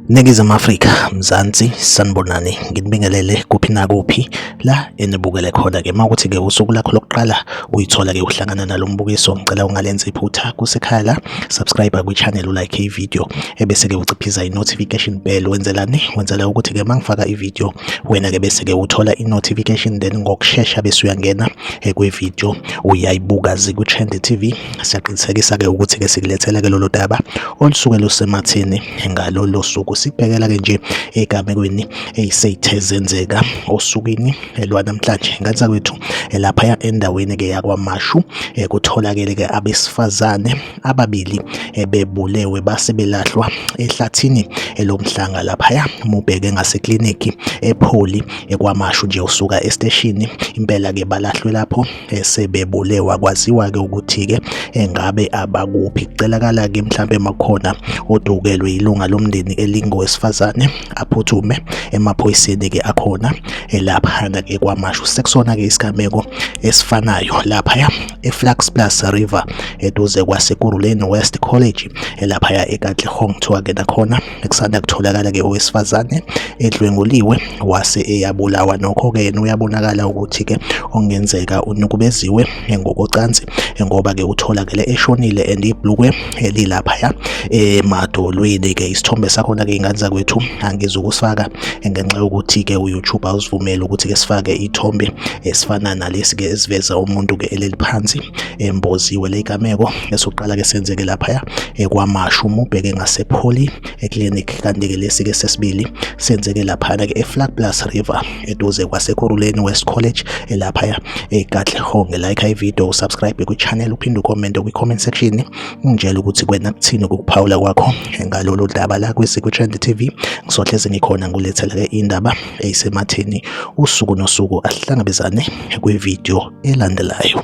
Ningizimu Afrika, Mzansi, sanibonani. Nginibingelele kuphi nakuphi la enibukele khona ke mawukuthi ke usuku lakho lokuqala uyithola ke uhlangana nalo mbukiso, ngicela ungalenzi iphutha kusekhala. subscribe kwichannel ulike ivideo ebese-ke uciphiza i-notification bell wenzelani wenzela ukuthi-ke uma ngifaka ivideo wena-ke bese-ke uthola i-notification then ngokushesha bese uyangena eh, kwivideo uyayibuka ziku-trend tv siyaqinisekisa-ke ukuthi-ke sikulethela-ke lolo daba olusuke lusematheni ngalolo suku sibhekela-ke nje egamekweni eyiseyithe zenzeka osukwini elwa namhlanje nkansa kwethu eh, laphaya endaweni ke yakwamashu eh, kutholakele ke abesifazane ababili eh, bebulewe base belahlwa ehlathini elomhlanga laphaya mubheke ngasekliniki epholi ekwamashu nje usuka esteshini impela ke balahlwe lapho esebebulewa kwaziwa-ke ukuthi-ke engabe abakuphi kucelakala-ke mhlawumbe makhona odukelwe yilunga lomndeni elingowesifazane aphuthume emaphoyiseni-ke akhona elaphana-ke kwamashu sekusona-ke isigameko esifanayo laphaya eflux plus river eduze kwasekuruleni west college elaphaya ekatlehong kuthiwa-ke nakhona kusanda kutholakala ke owesifazane edlwenguliwe wase eyabulawa nokho ke yena uyabonakala ukuthi ke ongenzeka unukubeziwe ngokocansi ngoba ke utholakele eshonile and iblukwe elilapha ya emadolweni ke isithombe sakhona ke ingane zakwethu angizukusifaka ngenxa yokuthi ke uYouTube awusivumeli ukuthi ke sifake ithombe esifana nalesi ke esiveza umuntu ke eleli phansi emboziwe lekameko esokuqala ke senzeke lapha eh, kwamashu mubheke ngasepholi eclinic eh, kanti ke lesi ke sesibili senzeke lapha ke eflag plus river eduze kwasekhoruleni west college eh, lapha egatle honge like i video subscribe ku channel uphinde ucomment kwi comment section ungitshela ukuthi kwena kuthini ukuphawula kwakho ngalolu daba la kwesiku trend tv ngisohleze ngikhona ngulethela ke indaba eyisematheni usuku nosuku ahlangabezane kwi video elandelayo